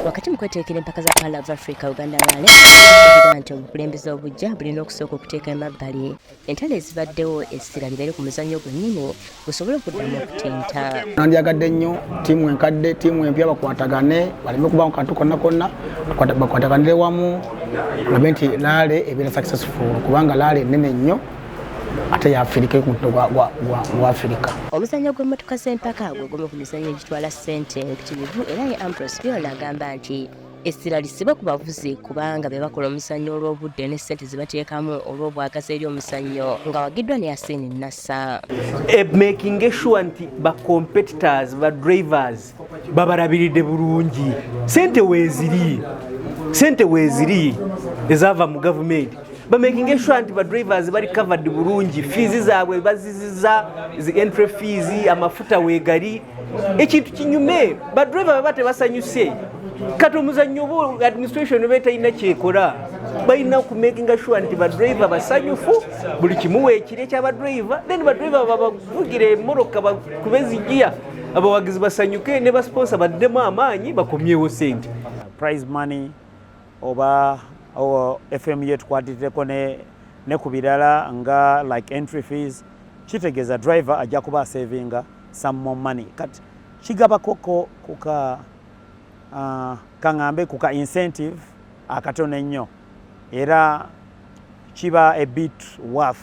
Wakati mu kweteekera empaka za Pearl of Africa Uganda Rally era nti obukulembeze obujja bulina okusooka okuteeka emabbali entalo ezibaddewo essira libeere ku muzannyo gwennyini gusobole okuddamu okutenta. Nandyagadde nnyo ttiimu enkadde ttiimu empya bakwatagane baleme kubamu kantu konna konna bakwataganire wamu olabe nti laale ebeera successful kubanga laale nnene nnyo. ate yafirika ekumutuno gwa afirika omuzanyo gw'emmotoka z'empaka gwe gumu ku mizanyo egitwala ssente empitirivu era ye ampros byola agamba nti essira lisibe ku bavuzi kubanga be bakola omuzannyo olw'obudde ne ssente ze bateekamu olw'obwagazi eri omuzannyo nga wagiddwa ne yasiini nassa eh, making sure nti ba competitors ba drivers babalabiridde bulungi sente weziri sente weziri ezaava mu gavumenti bamakinga esure nti badrivers bali covered bulungi fiizi zaabwe baziziza zi entry fiizi amafuta wegali ekintu kinyume badriver baba tebasanyuse kati omuzannyo oba administration oba etalina kyekola balina kumakinga sure nti badriver basanyufu buli kimu weekire kya badriver then badriver babavugire emoroka kubezijia abawagizi basanyuke ne basiponsa baddemu amaanyi bakomyewo sente prize money oba fm yetukwatirireko ne, ne ku birala nga like entry fees kitegeeza driver ajja kuba asavinga some more money kati kigabakoko kuka uh, kaŋambe kuka incentive akatono ennyo era kiba a bit worth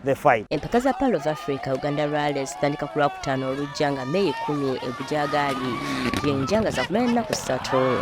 the fight. Empaka za Pearl of Africa Uganda Rally zitandika ku Lwakutaano olujja nga May kkumi egujagaali yenja nga zakumala ennaku ssatu.